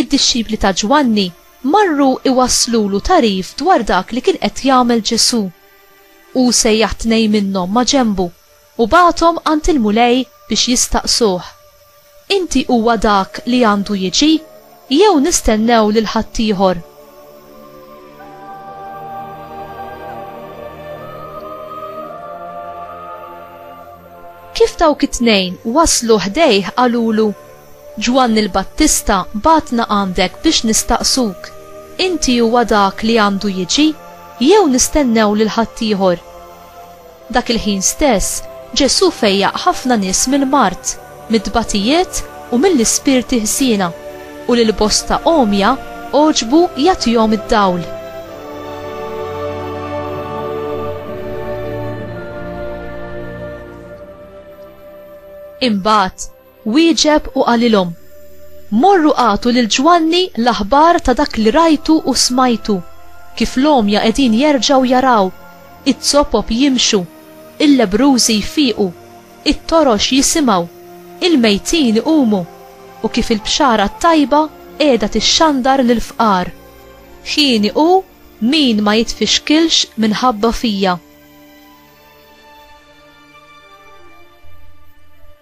Id-dixxipli ta' Ġwanni marru jwasslulu tagħrif dwar dak li kien qed jagħmel Ġesù. Hu sejjaħ tnejn minnhom maġenbu u bagħathom għand il-Mulej biex jistaqsuh, Inti huwa dak li għandu jiġi, jew nistennew lil ħaddieħor? Kif dawk it-tnejn waslu ħdejh qalulu, Ġwanni l-Battista bagħatna għandek biex nistaqsuk, Inti huwa dak li għandu jiġi, jew nistennew lil ħaddieħor? Dak il-ħin stess, Ġesù fejjaq ħafna nies mill-mard, mit-tbatijiet u mill-ispirti ħżiena, u lil bosta għomja għoġbu jagħtihom id-dawl. Imbagħad, Wieġeb u qalilhom, Morru agħtu lil Ġwanni l-aħbar ta' dak li rajtu u smajtu, kif l-għomja qegħdin jerġgħu jaraw, iz-zopop jimxu, il-lebbrużi jfiqu, it-torox jisimgħu, il-mejtin iqumu, u kif il-bxara t-tajba qiegħda tixxandar lill-fqar. Hieni hu min ma jitfixkilx minħabba fija.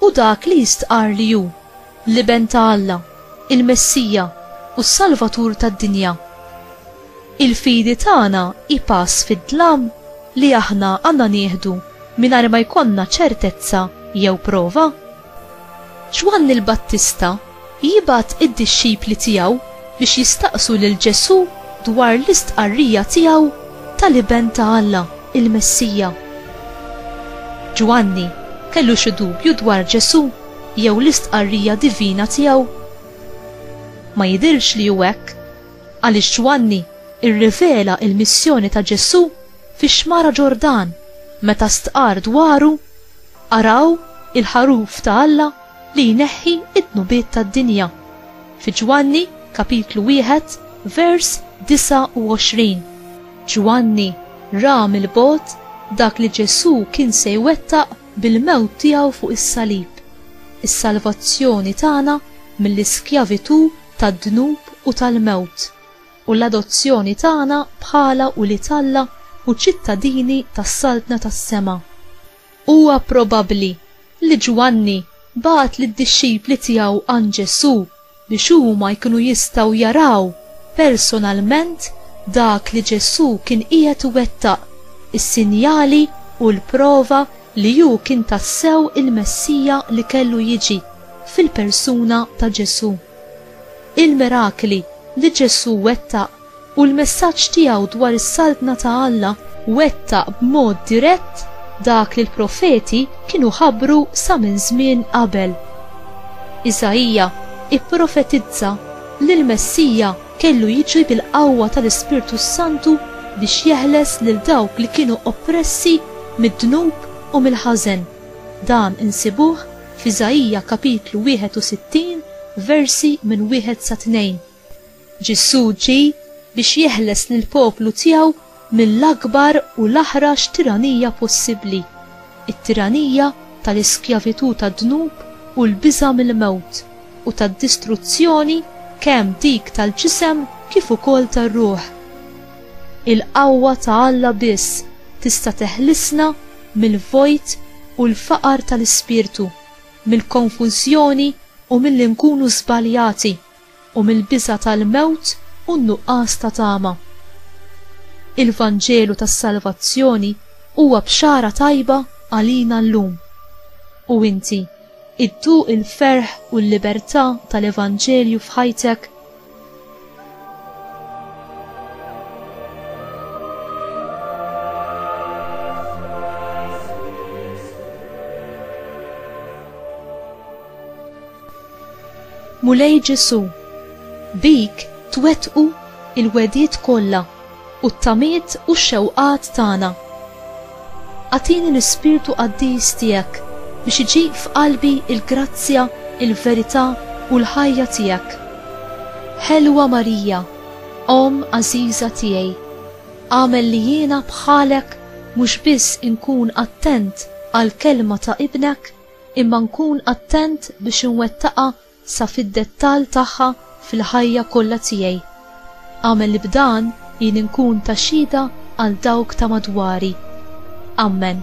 Hu dak li jistqarr li hu, l-Iben ta' Alla, il-Messija, u s-Salvatur tad-dinja. Il-fidi tagħna hi pass fid-dlam li aħna għandna nieħdu mingħajr ma jkollna ċertezza jew prova? Ġwanni l-Battista Jibgħat id-dixxipli tiegħu biex jistaqsu lil Ġesù dwar l-istqarrija tiegħu tal-Iben ta' Alla, il-Messija. Ġwanni kellu xi dubju dwar Ġesù jew l-istqarrija divina tiegħu? Ma jidhirx li hu hekk, għaliex Ġwanni rrivela l-missjoni ta' Ġesù fix-Xmara Ġordan meta stqarr dwaru, Araw il-Ħaruf ta' Alla! li jneħħi d-dnubiet tad-dinja. Fi Ġwanni, kapitlu wieħed, vers 29, Ġwanni ra mill-bogħod dak li Ġesù kien se jwettaq bil-mewt tiegħu fuq is-salib, is-salvazzjoni tagħna mill-iskjavitù tad-dnub u tal-mewt, u l-adozzjoni tagħna bħala ulied Alla u ċittadini tas-Saltna tas-sema. Huwa probabbli li Ġwanni bagħat lid-dixxipli tiegħu għand Ġesù biex huma jkunu jistgħu jaraw personalment dak li Ġesù kien qiegħed iwettaq, is-sinjali u l-prova li hu kien tassew il-Messija li kellu jiġi, fil-persuna ta' Ġesù. Il-mirakli li Ġesù wettaq u l-messaġġ tiegħu dwar is-Saltna ta' Alla wettaq b'mod dirett dak li l-profeti kienu ħabbru sa minn żmien qabel. Isaija pprofetizza li l-Messija kellu jiġi bil-qawwa tal-Ispirtu s-Santu biex jeħles lil dawk li kienu oppressi mid-dnub u mill-ħażen, dan insibuh f'Isaija kapitlu 61 versi minn wieħed sa tnejn. Ġesù ġie biex jeħles lill-poplu tiegħu mill-akbar u l-aħrax tiranija possibbli, it-tiranija tal-iskjavitù tad-dnub u l-biża' mill-mewt u tad-distruzzjoni kemm dik tal-ġisem kif ukoll tar-ruħ. Il-qawwa ta' Alla biss tista' teħlisna mill-vojt u l-faqar tal-ispirtu, mill-konfużjoni u milli nkunu żbaljati. u mill-biża' tal-mewt u n-nuqqas ta' tama. Il-Vanġelu tas-salvazzjoni huwa bxara tajba għalina llum. U inti idduq il-ferħ u l-libertà tal-Evanġelju f'ħajtek? Mulej Ġesù, bik twettqu l-wegħdiet kollha u t-tamiet u x-xewqat tagħna. Agħtini l-ispirtu qaddis tiegħek biex iġib f'qalbi l-grazzja, il-verità u l-ħajja tiegħek. Ħelwa Marija, Omm għażiża tiegħi, agħmel li jiena bħalek mhux biss inkun attent għall-kelma ta' Ibnek, imma nkun attent biex inwettaqha sa fid-dettall tagħha fil-ħajja kollha tiegħi. Agħmel li b'dan jien inkun ta' xhieda għal dawk ta' madwari. Ammen.